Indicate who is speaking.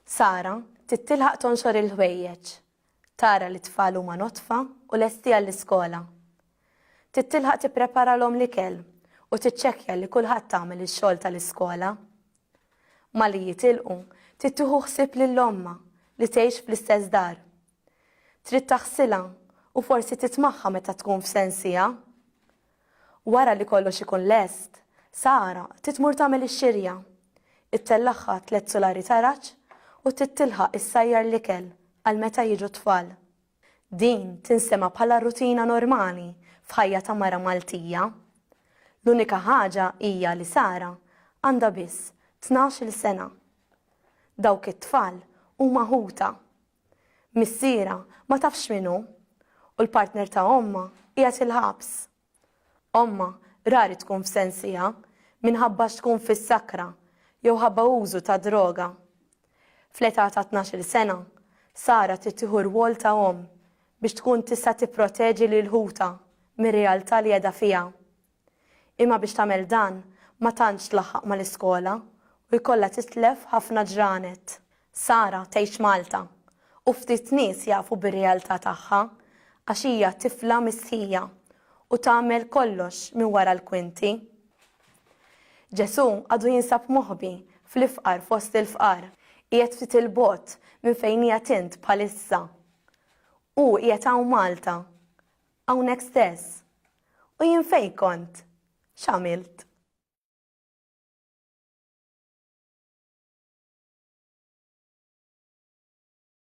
Speaker 1: Sara trid tilħaq tonxor il-ħwejjeġ, tara li tfal huma notfa u lesti għall-iskola. Trid tilħaq tippreparalhom l-ikel u tiċċekkja li kulħadd tagħmel ix-xogħol tal-iskola. Malli jitilqu, trid tieħu ħsieb lil omma li tgħix fl-istess dar Trid taħsilha u forsi titmagħha meta tkun f'sensiha. Wara li kollox ikun lest, Sara trid tmur tagħmel ix-xirja. Ittellagħha tliet sulari taraġ u trid tilħaq issajjar l-ikel għal meta jiġu t-tfal. Din tinsema' bħala rutina normali f'ħajja ta' mara Maltija. L-unika ħaġa hija li Sara għandha biss tnax-il sena. Dawk it-tfal huma ħutha. Missierha ma tafx min hu u l-partner ta' ommha qiegħed il-ħabs. Ommha rari tkun f'sensieha minħabba x'tkun fis-sakra jew ħabba użu ta' droga. Fl-età ta' tnax-il sena, Sara trid tieħu r-rwol ta' omm biex tkun tista' tipproteġi lil ħutha mir-realtà li qiegħda fiha. Imma biex tagħmel dan ma tantx tlaħħaq mal-iskola u jkollha titlef ħafna ġranet. Sara tgħix Malta u ftit nies jafu bir-realtà tagħha għax hija tifla mistħija u tagħmel kollox minn wara l-kwinti. Ġesù għadu jinsab moħbi fl-ifqar fost il-fqar, qiegħed ftit 'il bogħod minn fejn qiegħed int bħalissa. Hu qiegħed hawn Malta. Hawnhekk stess. U jien fejn kont? X'għamilt?